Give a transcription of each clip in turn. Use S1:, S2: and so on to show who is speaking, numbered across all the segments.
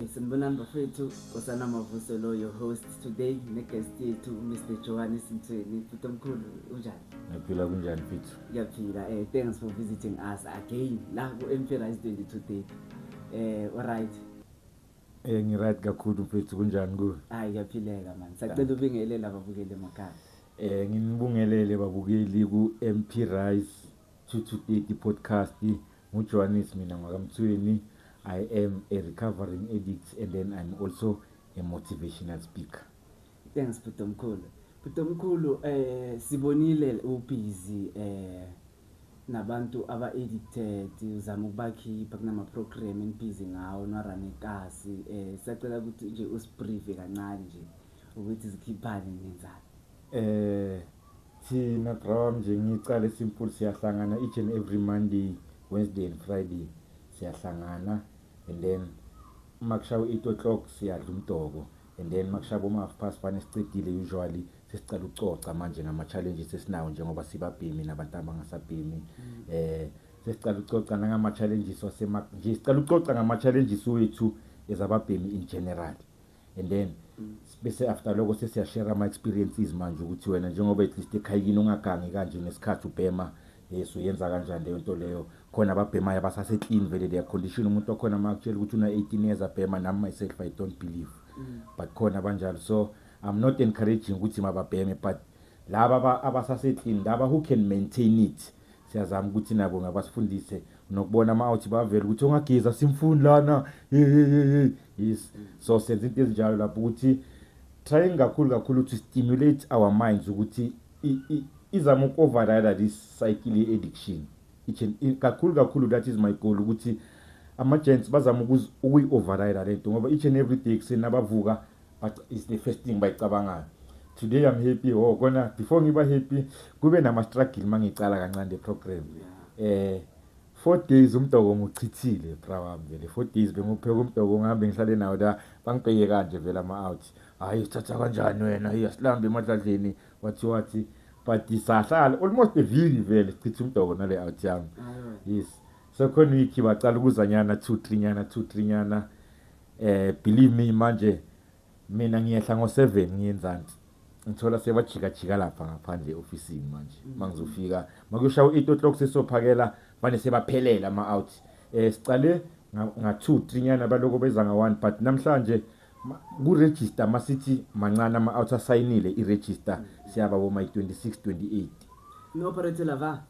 S1: Sanibonani bafethu Nkosana Mavuso lo your host today ne guest yethu Mr Johan Simthweni futhi omkhulu unjani Ngiyaphila kunjani
S2: mfethu Ngiyaphila eh thanks
S1: for visiting us again la ku MP Rise 22 day eh alright Eh
S2: ngi right kakhulu mfethu kunjani ku Hayi ngiyaphileka
S1: man sacela ubingelele lababukeli emakhaya Eh nginibungelele
S2: babukeli ku MP Rise 22 podcast Ngu Johannes mina ngwakamthweni I am a recovering addict and then I'm also a motivational speaker. Thanks Bhuti
S1: Omkhulu. Bhuti Omkhulu eh sibonile u busy eh nabantu aba addicted uzama ukubakhipha kunama program en busy ngawo no run ekasi eh siyacela ukuthi nje usbrieve kancane nje ukuthi zikhiphane nenzani. Eh thina
S2: bra nje ngicala simple siyahlangana each and every Monday, Wednesday and Friday siyahlangana and then uma kushawa 8 o'clock siyadla umdoko and then makushaba uma half past fane sicedile usually sesicela ukucoca manje ngama challenges esinawo njengoba sibabhemi nabantu abangasabhemi mm. eh sesicela ukucoca ngama challenges wasema nje sicela ukucoca ngama challenges wethu ezababhemi in general and then bese after lokho sesiyashare ama-experiences manje ukuthi wena njengoba at least ekhayini ungagangi kanje ngesikhathi ubhema yes uyenza kanjani leyo nto leyo khona ababhemayo abasase-clean vele their condition umuntu okhona uma kutshela ukuthi una-eighteen years abhema nami myself i don't believe mm. but khona abanjalo so i'm not encouraging ukuthi mababheme but laba abasase-clean laba who can maintain it Siyazama ukuthi nabo ngabasifundise nokubona ama out bavele ukuthi ongagiza simfuni lana. Yes. So senza into ezinjalo lapho ukuthi trying kakhulu kakhulu to stimulate our minds ukuthi izama ukoverride this cycle ye addiction. Kakhulu kakhulu that is my goal ukuthi ama gents bazama ukuyi override lento ngoba each and every day kuseni abavuka but it's the first thing bayicabangayo today i'm happy oh kona before ngiba happy kube nama-struggle uma ngicala kancane le-program eh four days umdoko ngichithile bra wami vele four days bengiwupheka umdoko ngihambe ngihlale nawo la bangibheke kanje vele ama-out hhayi sithatha kanjani wena iya silambe emadladleni wathi wathi but sahlala almost eviki vele sichitha umdoko nale out yami yes so khona week bacala ukuzanyana two three nyana two three nyana Eh believe me manje mina ngiyehla ngo 7 ngiyenzansi. Ngithola sebajika jika lapha ngaphandle office manje. Mm. Mangizofika makushaya u8 o'clock sesophakela manje sebaphelela ama out. Eh sicale nga 2 3 nyana baloko beza nga 1 but namhlanje kuregister masithi mancane ama out asayinile iregister mm. siyaba bo my 26 28. No operator
S1: lava.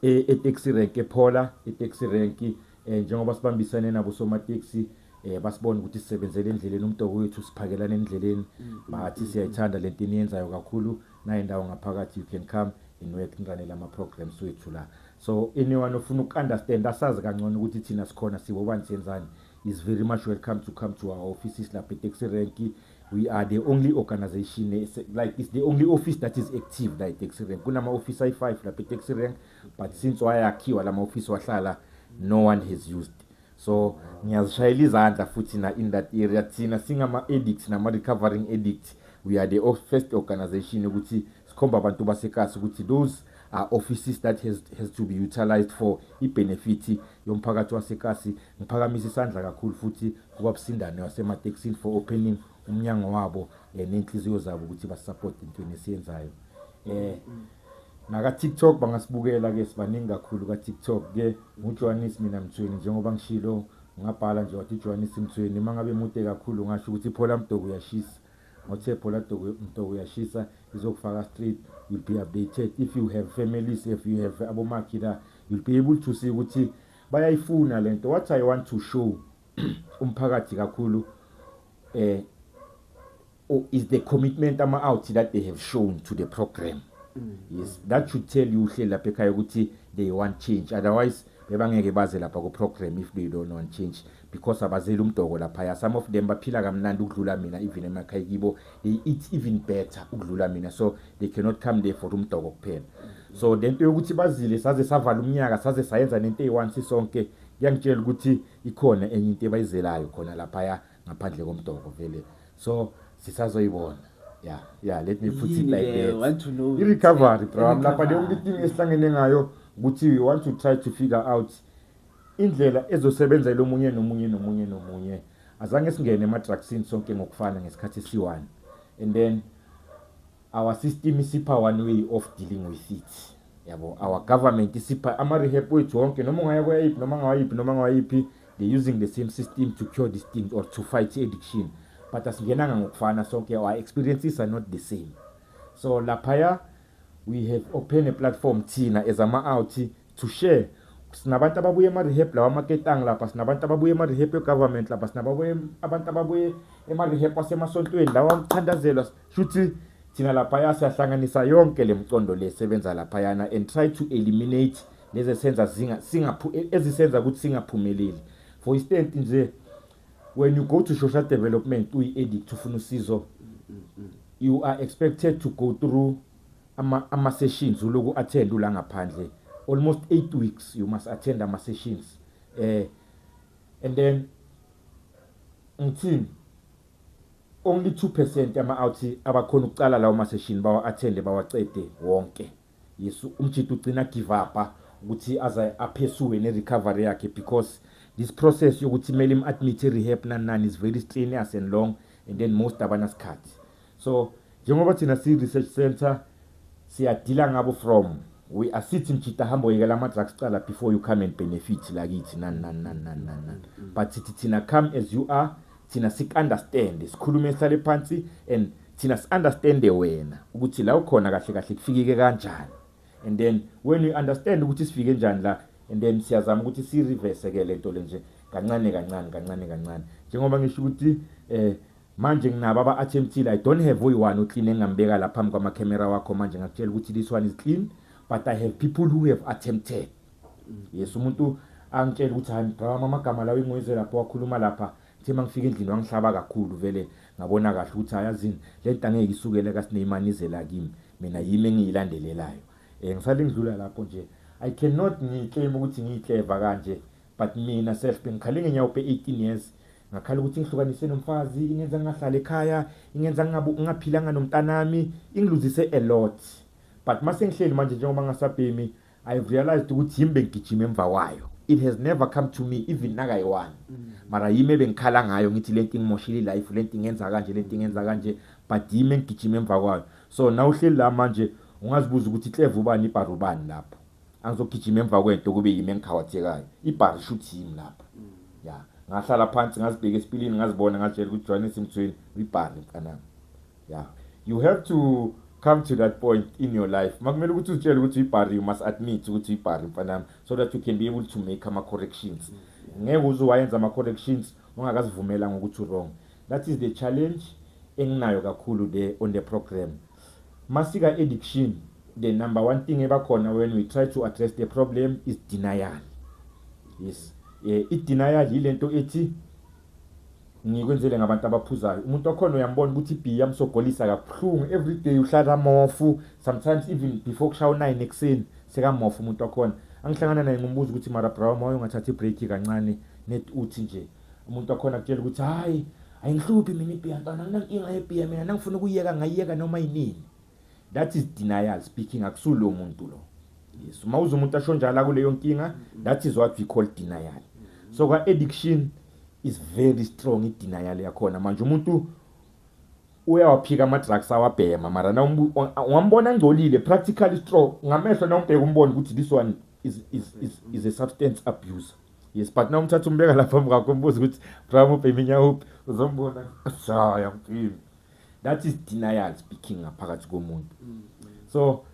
S1: e, etaxi
S2: rank ephola itaxi rank eh, njengoba sibambisane nabo somateksi eh basibona ukuthi sisebenzele endleleni umtoko wethu siphakelana endleleni bathi siyayithanda lento eniyenzayo kakhulu naye ndawo ngaphakathi you can come and work ngiranela ama programs wethu la so anyone ofuna ukunderstand asazi kangcono ukuthi thina sikhona sibo bani senzani is very much welcome to come to our offices lapha etaxi rank we are the only organization like it's the only office that is active la itaxi rank kunama-office ayi-five lapha itaxi rank but since wayakhiwa la ma-office wahlala no one has used so ngiyazishayela izandla futhi na in that area thina singama-addict nama-recovering addict we are the first organization ukuthi sikhomba abantu basekasi ukuthi those are offices that has, has to be utilized for i-benefit yomphakathi wasekasi Ngiphakamisa isandla kakhulu futhi kubabusindane wasematekisini for opening umnyango wabo eh, nenhliziyo zabo ukuthi basupport intweni esiyenzayo eh naka TikTok bangasibukela ke sibaningi kakhulu ka TikTok ke nguJohannes mina Mthweni njengoba ngishilo ngabhala nje wathi uJohannes Mthweni uma ngabe mude kakhulu ngasho ukuthi phola mdobo uyashisa ngothe phola dobo mdobo uyashisa izokufaka straight you'll be updated if you have families if you have abomakhi la you'll be able to see ukuthi Bayayifuna lento what I want to show umphakathi kakhulu eh or is the commitment ama out that they have shown to the program mm. yes that should tell you uhle lapha ekhaya ukuthi they want change otherwise bebangeke baze lapha ku program if they don't want change because abazeli umdoko laphaya some of them baphila kamnandi ukudlula mina even emakhaya kibo they eat even better ukudlula mina so they cannot come there for umdoko kuphela so le nto yokuthi bazile saze savala umnyaka saze sayenza nento eyi-one sisonke kuyangitshela ukuthi ikhona enye into ebayizelayo khona laphaya ngaphandle komdoko vele so sisazoyibona ya ya let me put it like that i-recovery
S1: bro
S2: lapha leyo nto itingi esihlangene ngayo ukuthi we want to try to figure out Indlela ezosebenzela omunye nomunye nomunye nomunye. Azange singene emadrugsini sonke ngokufana ngesikhathi esiwani. And then our system isipha one way of dealing with it. Yabo, our government isipha ama rehab wethu wonke noma ungaya kwayiphi noma ngawayiphi noma ngawayiphi they using the same system to cure this thing or to fight addiction. But asingenanga ngokufana sonke our experiences are not the same. So laphaya we have open a platform thina as ama out to share sinabantu ababuye ema-rehab lawa amaketang lapha sinabantu ababuye ema-rehab egovernment lapha sinababuye abantu ababuye ema-rehab wasemasontweni lawa kuthandazelwa shuthi thina laphaya siyahlanganisa yonke le mcondo le sebenza laphayana and try to eliminate lezi esenza ezisenza ukuthi singaphumeleli for instance nje when you go to social development uyi-edict ufuna usizo you are expected to go through ama ama sessions uloku attend ula ngaphandle almost 8 weeks you must attend ama sessions eh and then ngithini only 2% ama out abakhona ukucala lawo ma session bawa attend bawacede wonke yesu umjito ugcina give up ukuthi aze aphesue ne recovery yakhe because this process yokuthi mele im admit rehab nanani is very strenuous and long and then most abanasikhathi so njengoba thina si research center siyadila ngabo from we are sitting mjita hamba oyekela ama drugs cala before you come and benefit la kithi nan nan nan nan nan nan but sithi thina come as you are thina sik understand sikhulume sale phansi and thina si understand wena ukuthi la ukhona kahle kahle kufikike kanjani and then when you understand ukuthi sifike njani la and then siyazama ukuthi si reverse ke lento lenje kancane kancane kancane kancane njengoba ngisho ukuthi eh Manje nginabo aba attemptile I don't have oyi one uclean engingambeka la phambi kwama camera wakho manje ngakutshela ukuthi this one is clean but I have people who have attempted yes umuntu angitshela ukuthi hayi mgqama amagama lawo ingoyize lapho wakhuluma lapha ngithe uma ngifika endlini wangihlaba kakhulu vele ngabona kahle ukuthi ayazini le nto angeke isukele kasineyimani izela kimi mina yimi engiyilandelelayo um ngisale ngidlula lapho nje i cannot ngiclaim ukuthi ngiyicleva kanje but mina self bengikhale ngenyawo pe 18 years ngakhala ukuthi ngihlukaniswe nomfazi ingenza ngingahlali ekhaya ingenza ngingaphilanga nomntanami ingiluzise a lot but mase ngihleli manje njengoba ngasabhemi i have realized ukuthi yimi bengigijima emva kwayo it has never come to me even nakayi-one mm. mara yimi ebengikhala ngayo ngithi le nto ingimoshile ilife le nto ingenza kanje le nto ingenza kanje but yimi engigijima emva kwayo so na uhleli la manje ungazibuza ukuthi ikleva ubani ibhara ubani lapho angizogijima emva kwento kube yimi engikhawathekayo ibhari shuthi yimi lapha ya ngahlala phansi ngazibheka esipilini ngazibona ngazitshela ukuthi johannes mthweni ibhari mntanami ya you have to come to that point in your life makumele ukuthi uzitshele ukuthi uyibhari you must admit ukuthi uyibhari mfanami so that you can be able to make ama-corrections ngeke uze wayenza ama-corrections ungakazivumelanga ukuthi wrong that is the challenge enginayo kakhulu le on the program Masika addiction the number one thing ebakhona when we try to address the problem is denial yes eh i denial yilento ethi ngikwenzele ngabantu abaphuzayo umuntu okhona uyambona ukuthi ibhiya yamsogolisa kabuhlungu every day uhlala mofu sometimes even before kushaya u-9 ekuseni sekamofu umuntu okhona angihlangana naye ngimbuza ukuthi mara brown moya ungathathi ibreak kancane net uthi nje umuntu wakhona kutshela ukuthi hayi ayingihluphi mina ibhiya ntwana anginankinga yebhiya mina nangifuna ukuyeka ngayiyeka noma yinini that is denial speaking akusulo muntu lo yes uma uze umuntu asho njalo akuleyo nkinga that is what we call denial so kwa addiction is very strong i-denial yakhona manje umuntu uyawaphika ama-drugs awabhema mara ungambona angcolile practically strong ngamehlo nawumbheka umbone ukuthi this one is, is, is, is a substance abuser yes but na umthatha umbeka lapha phambi kwakho umbuza ukuthi bra mubheminya uphi uzombona shaya mfini that is denial speaking ngaphakathi komuntu mm, mm. so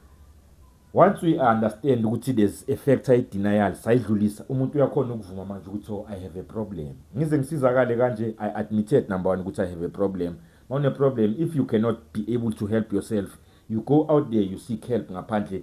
S2: once we understand ukuthi there's a factor i-denial sayidlulisa umuntu uyakhona ukuvuma manje ukuthi oh, i have a problem ngize ngisizakale kanje i admitted number one ukuthi i have a problem ma une-problem if you cannot be able to help yourself you go out there you seek help ngaphandle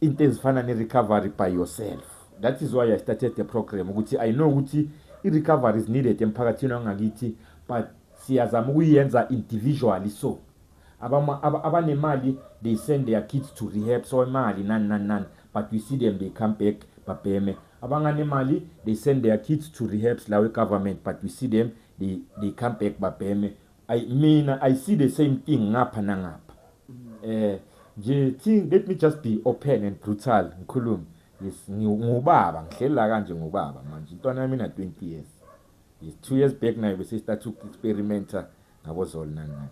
S2: into ezifana ne-recovery by yourself that is why i started the program ukuthi i know ukuthi i-recovery is needed emphakathini wangakithi but siyazama ukuyenza individually so abanemali they send their kids to rehab so imali nani nani nani but we see them they come back babheme abanganemali they send their kids to rehabs lawe government but we see them they, they come back babheme I mina I see the same thing ngapha nangapha. Eh nje thi let me just be open and brutal ngikhulume. Yes ngubaba ngihleli la kanje ngubaba manje intwana yami na 20 years. Yes 2 years back nayo bese start to experimenta ngabo zolo nani nani.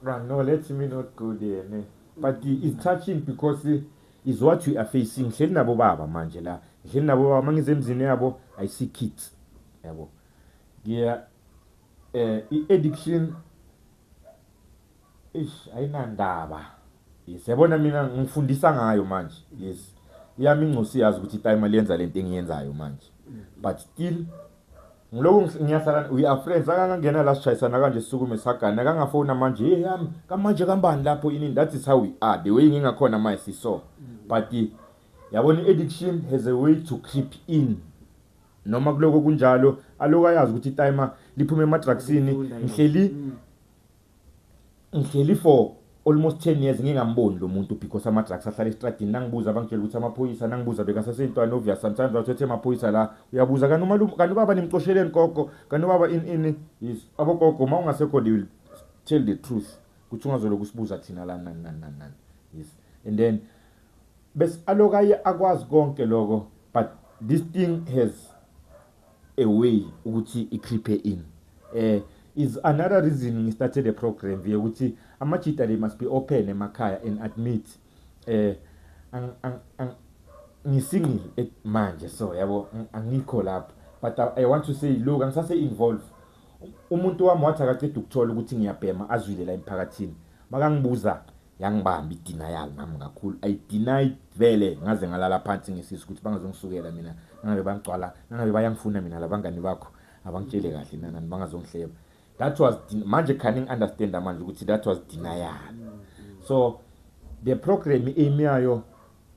S2: Ah, no, let me not go there. Ne? But it's touching because eh, is what we are facing. Ngihleli nabo baba manje la. Ngihleli nabo baba mangize emzini yabo I see kids. Yabo. Yeah. Eh, i-addiction Eish ayinandaba. Yes yabona mina ngifundisa ngayo manje. Yes. Yami ingcosi yazi ukuthi itime aliyenza lento engiyenzayo manje. But still ngiloko ngiyahlala we are friends akangangena la sishayisana kanje sisukume sagana akangafona manje hey yami kamanje kambani lapho ini that is how we are the way ngingakhona manje siso but yabona addiction has a way to creep in noma kuloko kunjalo alokayazi ukuthi itime liphuma emadrugsini ngihleli mm. Ngihleli for almost 10 years ngingamboni lo muntu because ama drugs ahlala estradini nangibuza bangitshela ukuthi amaphoyisa nangibuza bekasasentwana obvious sometimes bathethe amaphoyisa la uyabuza kanti umalume kanti ubaba nimcosheleni gogo kanti ubaba in in is abogogo uma ungasekho they will tell the truth ukuthi ungazoloku sibuza thina la nani nani nani nani yes and then bes alokaye akwazi konke lokho but this thing has a way ukuthi ikhiphe in eh is another reason ngi started the program via ukuthi ama cheater they must be open emakhaya and admit eh ang ang, ang ngisingle eh, manje so yabo angikho lapho but I, I want to say look angisase involve umuntu wami wathi akaceda ukuthola ukuthi ngiyabhema azwile la emphakathini makangibuza yangibamba i-denial nami kakhulu i denied vele ngaze ngalala phansi ngesisu ukuthi bangazongisukela mina nangabe bangigcwala nangabe bayangifuna mina labangani bakho abangitshele kahle nanani bangazongihleba that was manje khani ngi-understanda manje ukuthi that was denial so the program imi yayo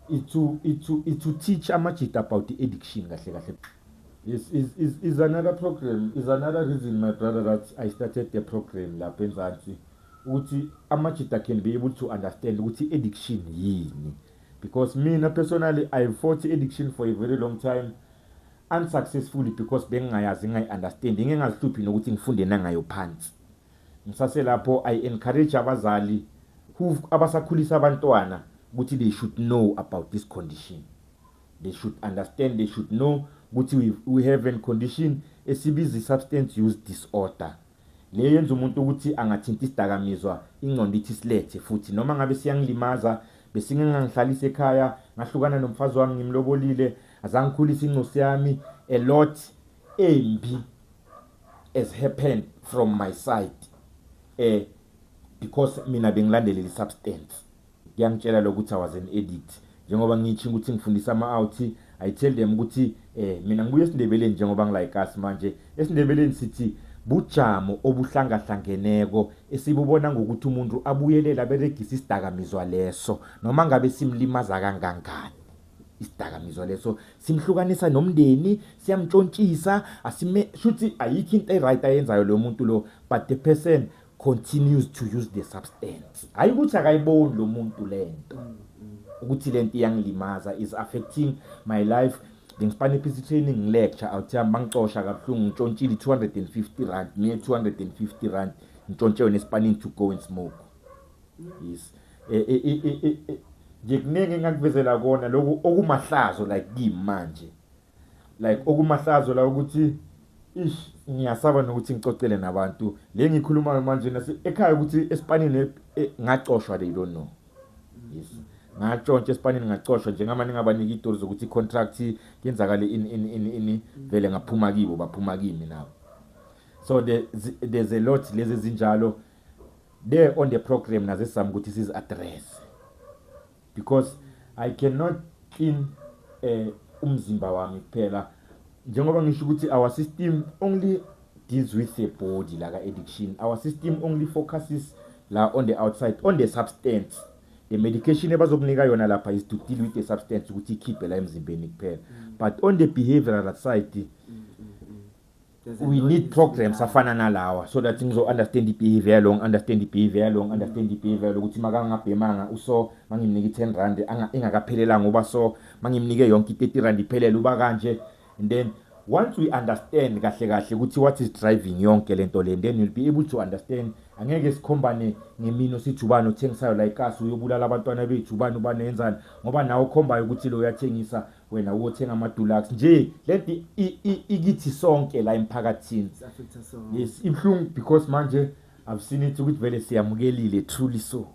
S2: It's to, it's to, it's to teach amajita about the addiction kahle kahle. Is, is, is, is another program, is another reason my brother that I started the program lapha eMzansi. Ukuthi amajita can be able to understand ukuthi addiction yini. Because mina personally I fought addiction for a very long time unsuccessfully because bengingayazi ngingayi-understand ngingengazihluphi nokuthi ngifunde nangayo phansi Ngisaselapho I encourage abazali who abasakhulisa abantwana ukuthi they should know about this condition. They should understand, they should know ukuthi we, we have a condition esibiza i-substance use disorder. Le yenza umuntu ukuthi angathinta isidakamizwa ingqondo ithi silethe futhi noma ngabe siyangilimaza besingengangihlalisa ekhaya ngahlukana nomfazi wami ngimlobolile azangikhulisa ingcosi yami a lot embi as happened from my side eh because mina bengilandele le substance kuyangitshela lokuthi i was an edit njengoba ngitshinga ukuthi ngifundisa ama out i tell them ukuthi eh mina ngibuye esindebeleni njengoba ngilike us manje esindebeleni sithi bujamo obuhlangahlangeneko esibubona ngokuthi umuntu abuyelela beregisa isidakamizwa leso noma ngabe simlimaza kangangani isidakamizwa leso simhlukanisa nomndeni siyamtshontshisa asime shuthi ayikho into eright ayenzayo lo muntu lo but the person continues to use the substance hayi ukuthi akayiboni lo muntu lento ukuthi lento iyangilimaza is affecting my life ngisipane iphisi training ngilecture awuthiya bangicosha kabuhlungu ngitshontshile 250 rand me 250 rand ngitshontshe wena esipanini to go and smoke yes eh, eh, eh, eh, eh. nje kuningi engakuvezela kona lokhu okumahlazo like kimi manje like okumahlazo la ukuthi ish ngiyasaba nokuthi ngicocele nabantu le ngikhulumayo manje nase ekhaya ukuthi esipanini e, e, ngacoshwa they don't know yes ngatshontsha esipanini ngacoshwa njengama ningabanika itori zokuthi i-contract yenzakale ini ini ini ini vele ngaphuma kibo baphuma kimi nabo so there's a lot lezi ezinjalo there on the program naze sami ukuthi sizi address because i cannot clean eh umzimba wami kuphela njengoba ngisho ukuthi our system only deals with the body like addiction our system only focuses la on the outside on the substance the medication ebazokunika yona lapha is to deal with the substance ukuthi ikhiphe la emzimbeni kuphela but on the behavioral side we need programs afana nalawa so that ngizo-understand i-behavior yalo ngi-understand i-behavior yalo ngi-understand i-behavior yalo ukuthi makangabhemanga uso mangimnike i-ten rand engakaphelelanga uba so mangimnike yonke i-thirty rand iphelele uba kanje and then once we understand kahle kahle ukuthi what is driving yonke le nto le then you'll be able to understand angeke sikhombane ngemino sithi ubani othengisayo la ikasi uyobulala abantwana bethu ubani ubani yenzani ngoba nawe okhombayo ukuthi lo uyathengisa wena uyothenga ama-dulux nje lento ikithi sonke la emphakathini yes ibuhlungu because manje i've seen it ukuthi vele siyamukelile truly so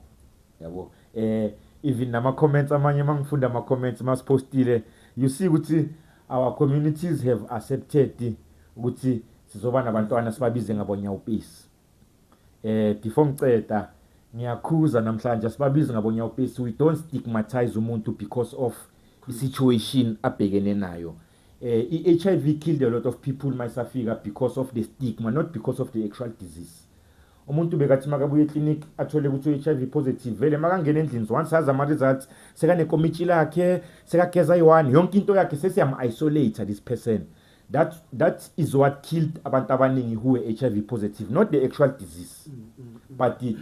S2: yabo eh even nama-comments amanye uma ngifunda ama-comments uma siphostile you see ukuthi our communities have accepted ukuthi sizoba nabantwana sibabize ngabonyawupisi Eh before ngiceda ngiyakhuza namhlanje sibabizi ngabonyawupesi we don't stigmatize umuntu because of i-situation abhekene nayo eh i-HIV killed a lot of people mayisafika because of the stigma not because of the actual disease umuntu bekathi makabuye eclinic athole ukuthi u-HIV positive vele makangena endlini once azi ama-results sekanekomitshi lakhe sekageza i-one yonke into yakhe sesiyam-isolate this person that that is what killed abantu abaningi who were HIV positive not the actual disease mm, mm, mm. but the,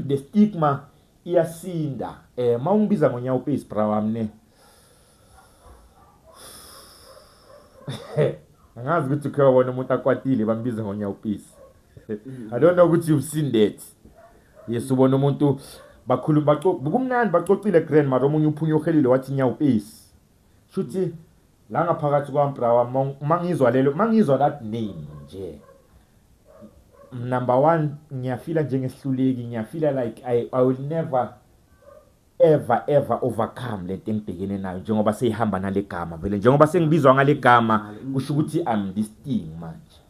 S2: the stigma iyasinda eh mawungibiza ngonyawo pezi bra wami ne angazi ukuthi ukhe wabona umuntu akwatile bambiza ngonyawo pezi i don't know ukuthi you've seen that yes ubona umuntu bakhuluma bacokumnandi bacocile grandma omunye uphunye uhelile wathi nyawo pezi Shuthi la ngaphakathi kwami bra wami mangizwa lelo mangizwa that name nje. Number 1 ngiyafila njengesihluleki ngiyafila like I I will never ever ever overcome lento engibhekene nayo njengoba seyihamba nalegama vele njengoba sengibizwa ngalegama kusho ukuthi I'm this thing manje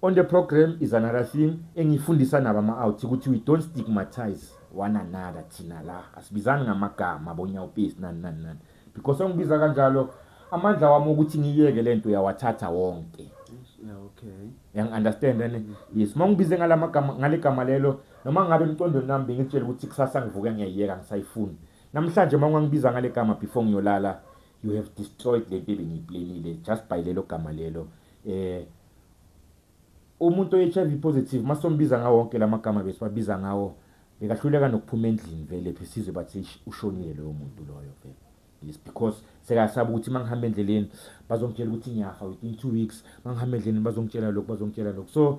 S2: On the program is another thing engifundisa nabo ama-out ukuthi we don't stigmatize one another thina la asibizani ngamagama bonyawupesi nani nani nani because ongibiza kanjalo amandla wami ukuthi ngiyeke le nto uyawathatha wonke okay
S1: yangi-understand
S2: ane yes uma ngibize ngale magama ngale gama lelo noma ngabe emcondweni nami bengitshela ukuthi kusasa ngivuke ngiyayiyeka ngisayifuni namhlanje uma ungangibiza ngale gama before ngiyolala you have destroyed le nto ebengiyiplanile just by lelo gama lelo eh umuntu oHIV positive masombiza ngawo wonke lamagama besibabiza ngawo bekahluleka nokuphuma endlini vele phe sizwe bathi ushonile loyo muntu loyo vele yes because sekasaba ukuthi mangihamba endleleni bazongitshela ukuthi ngiyafa within 2 weeks mangihamba endleleni bazongitshela lokho bazongitshela lokho so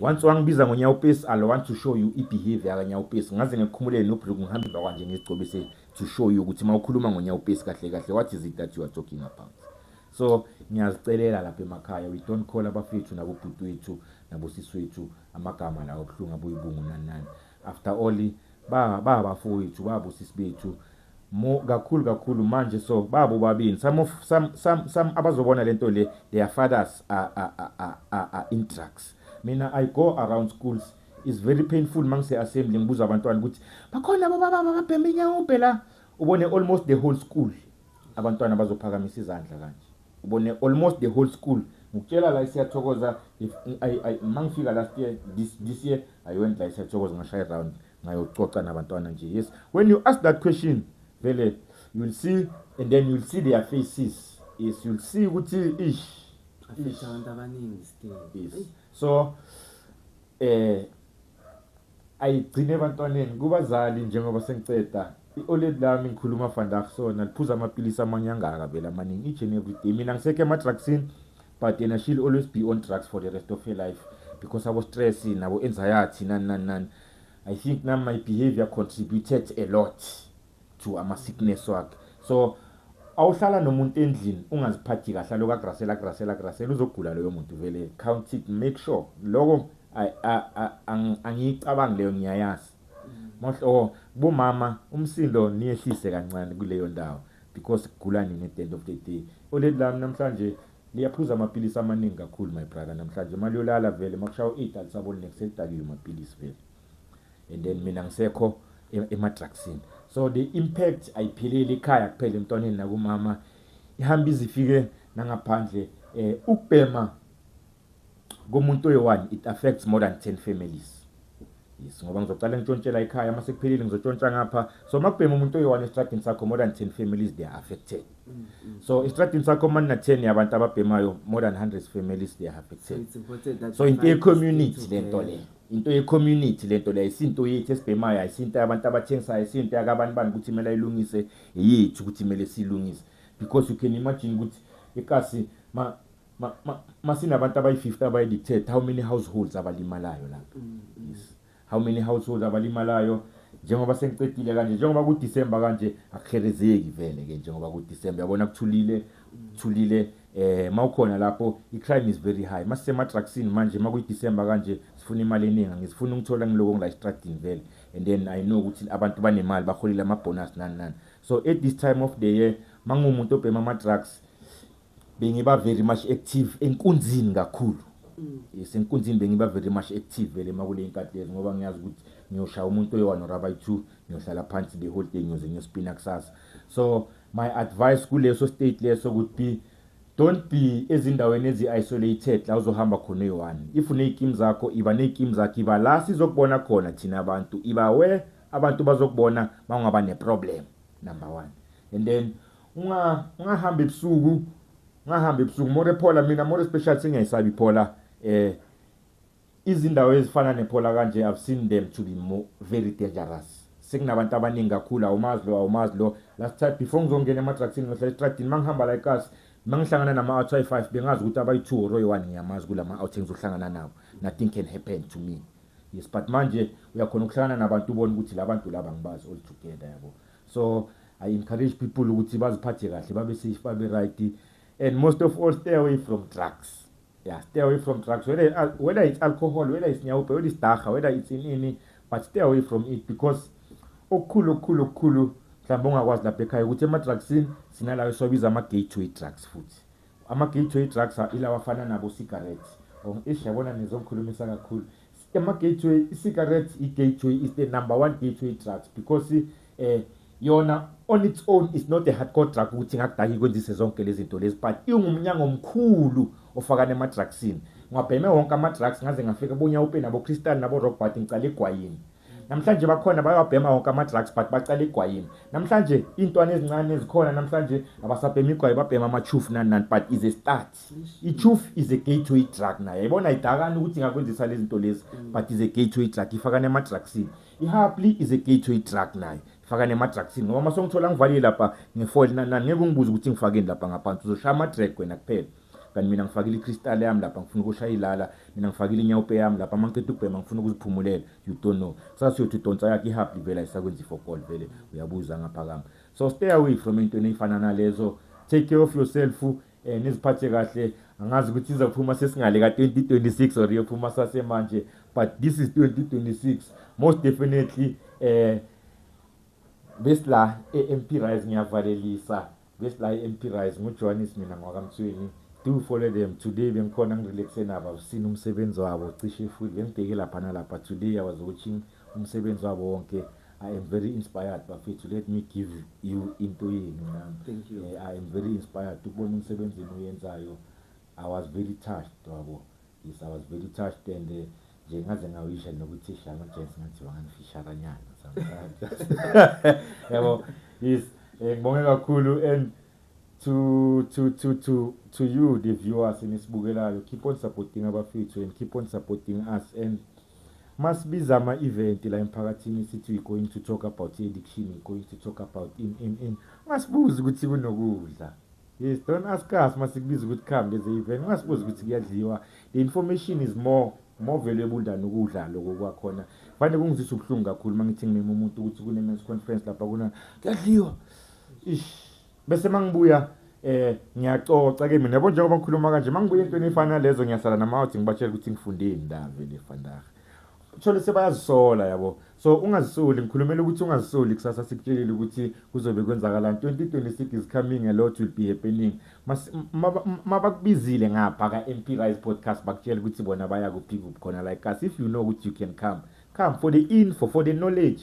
S2: once wangibiza ngonyawupesi alo want to show you i-behavior yakanyawupesi ngaze ngikhumulele nobhluk ngihambe emva kwanje ngizigcobise to show you ukuthi uma ukhuluma ngonyawupesi kahle kahle what is it that you are talking about so ngiyazicelela lapha emakhaya we don't call abafethu nabobhuti wethu nabosisi wethu amagama lawo obuhlungu abuyibungu nani nani after all ba babafowethu babo sisi bethu mo kakhulu kakhulu manje so babo babini some of some some, some abazobona lento le their fathers are, are, are, are, are in drugs mina i go around schools is very painful mangise assembly ngibuza abantwana ukuthi bakhona baba baba babhembe inyawubhe la ubone almost the whole school abantwana bazophakamisa izandla kanje ubone almost the whole school ngikutshela la isiyathokoza if ay ay mangifika last year this this year i went la isiyathokoza ngashaya round ngayococa nabantwana nje yes when you ask that question vele you will see and then you will see their faces yes you will see ukuthi ish
S1: abantu abaningi still yes so
S2: eh ayigcine ebantwaneni kubazali njengoba sengiceda i-oled lami ngikhuluma vandag sona liphuza amapilisi amanye angaka vele amaningi each and every day mina ngisekho ema-drugsini but yena she'll always be on drugs for the rest of her life because abo-stress nabo-anxiety nani nani nani i think nam my behavior contributed a lot to ama sickness wakhe so awuhlala nomuntu endlini ungaziphathi kahle aloku agrasela agrasela agrasela uzogula loyo muntu vele count it make sure loko angiyicabangi leyo ngiyayazi oh bomama umsindo niyehlise kancane kuleyo ndawo because kugula nini at the end of the day oleli lami namhlanje liyaphuza amaphilisi amaningi kakhulu my brother namhlanje imali yolala vele makushaya u-eight alisaboni nekusekudakiwe maphilisi vele and then mina ngisekho emadrugsini so the impact ayipheleli ikhaya kuphela emntwaneni nakumama ihamba izifike nangaphandle eh ukubhema komuntu oyi-one it affects more than 10 families yes ngoba ngizocala ngitshontshela ekhaya uma sekuphelile ngizotshontsha ngapha so uma kubhema umuntu oyi-one esitradini sakho more than 10 families they are affected mm, mm. so esitradini sakho uma nina-10 yabantu ababhemayo more than 100 families they are affected so,
S1: so into ye-community
S2: le nto leyo into ye-community le nto le ayisinto yethu esibhemayo ayisinto yabantu abathengisayo ayisinto yakabani bani ukuthi kumele ayilungise yethu ukuthi kumele siyilungise because you can imagine ukuthi ikasi masinabantu abayi-50 abayi-dictate how many households abalimalayo lapho mm, mm. yes. how many households abalimalayo njengoba sengiqedile kanje njengoba kudisemba kanje akuherezeki vele-ke njengoba kudisemba yabona kuthulile kuthulile eh mawukhona lapho i crime is very high mase ma trucks manje makuyi December kanje sifuna imali eningi ngizifuna ukuthola ngiloko ngila stradini vele and then i know ukuthi abantu banemali baholile ama bonus nani nani so at this time of the year mangumuntu obhema ama drugs bengiba very much active enkunzini kakhulu mm. yes enkunzini bengiba very much active vele makule inkati lezi ngoba ngiyazi ukuthi ngiyoshaya umuntu oyi-1 or abayi-2 ngiyohlala phansi the whole day ngiyoze ngiyospina kusasa so My advice kuleso state leso would be don't be ezindaweni ezi-isolated la uzohamba khona uyi-one if uney'kim zakho iba ney'kim zakho iba la sizokubona khona thina abantu iba we abantu bazokubona ma ungaba neproblem number one and then ungahambi ebusuku ungahambi ebusuku more phola mina more special sengiyayisabi phola um eh, Izindawo ezifana nePhola kanje I've seen them to be more very dangerous. Sekunabantu abaningi kakhulu awumazi lo awumazi lo. Last time before ngizongena emadrugsini ngihlala estradini mangihamba la eKasi mangihlangana nama out ayi 5 bengazi ukuthi abayi 2 or oyi 1 ngiyamazi kulama out engizohlangana nawo. Nothing can happen to me. Yes but manje uyakhona ukuhlangana nabantu ubone ukuthi labantu laba ngibazi all together yabo. So I encourage people ukuthi baziphathe kahle babe safe babe right and most of all stay away from drugs. Yeah, stay away from drugs, whether, uh, whether it's alcohol, whether it's nyawupe, whether it's dacha, whether it's inini, but stay away from it because okukhulu okukhulu okukhulu mhlawumbe ongakwazi lapha ekhaya ukuthi ema-drugsini sinalawo esiwabiza ama-gateway drugs futhi ama-gateway drugs ilawa afana nabo-cigarette or ish yabona nizongikhulumisa kakhulu Ema gateway cigarettes i gateway is the number one gateway drugs because eh yona on its own is not a hardcore drug ukuthi ngakudaki kwenzise zonke lezi zinto lezi but ingumnyango omkhulu ofakana emadrugsini ngwabheme wonke amadrugs ngaze ngafika bonya upe nabo crystal nabo rock but ngicala egwayini namhlanje bakhona bayawabhema wonke ama-drugs but bacala igwayini namhlanje iy'ntwana ezincane ezikhona namhlanje abasabhema igwayi babhema ama-chufu nani nani but is a start i-tooth is a gateway drug nayo yayibona idakani ukuthi ingakwenzisa lezi zinto lezi mm. but is a gateway drug ifakane ema-drugsini i-hapli is a gateway drug nayo ifakane ema-drugsini ngoba uma songithola ngivalile lapha ngefoli nangeke ungibuze ukuthi ngifakeni lapha ngaphansi uzoshaya ama-drag wena kuphela kanti mina ngifakile i-crystal yami lapha ngifuna ukushaya ilala mina ngifakile inyawupe yami lapha amanceda ukubhema ngifuna ukuziphumulela you don't know sasiyothi udonsa yakhe ihabha livela isakwenza ifokol vele uyabuza ngaphakama so stay away from entweni ey'fana nalezo take care of yourself eh niziphathe kahle angazi ukuthi izophuma sesingale ka 2026 or iyophuma sase manje but this is 2026 most definitely eh besila eMP Rise ngiyavalelisa besila eMP Rise nguJohannes mina ngwakamthweni do follow them today bengikhona ngirelaxe nabo sina umsebenzi wabo cishe futhi bengibheke lapha nalapha today i was watching umsebenzi wabo wonke I am very inspired bafethu let me give you into yenu nami eh, I am very
S1: inspired
S2: ukubona umsebenzi oyenzayo I was very touched wabo yes I was very touched and uh, nje ngaze ngawisha nokuthi shama James ngathi wanganifisharanyana sometimes yabo yes eh, ngibonge kakhulu and to to to to to you the viewers enisibukelayo keep on supporting abafethu and keep on supporting us and Masibiza ama event la emphakathini sithi we going to talk about i addiction, we going to talk about in in in. Ngasibuza ukuthi kunokudla. Yes, don't ask us masikubiza ukuthi come there's a event. Ngasibuza ukuthi kuyadliwa. The information is more more valuable than ukudla lokho kwakhona. Fanele kungizisa ubuhlungu kakhulu mangithi ngimema umuntu ukuthi kune men's conference lapha kuna kuyadliwa. Ish. bese mangibuya eh ngiyacoca ke mina yabo njengoba ngikhuluma kanje mangibuya into efana lezo ngiyasala namawuthi ngibatshela ukuthi ngifundeni ndave le fandaga uthole sebayazisola yabo so ungazisoli ngikhulumela ukuthi ungazisoli kusasa sikutshelile ukuthi kuzobe kwenzakalani 2026 is coming a lot will be happening mabakubizile ngapha ka-mp rise podcast bakutshela ukuthi bona baya kuphi kuphi khona like us if you know ukuthi you can come come for the info for the knowledge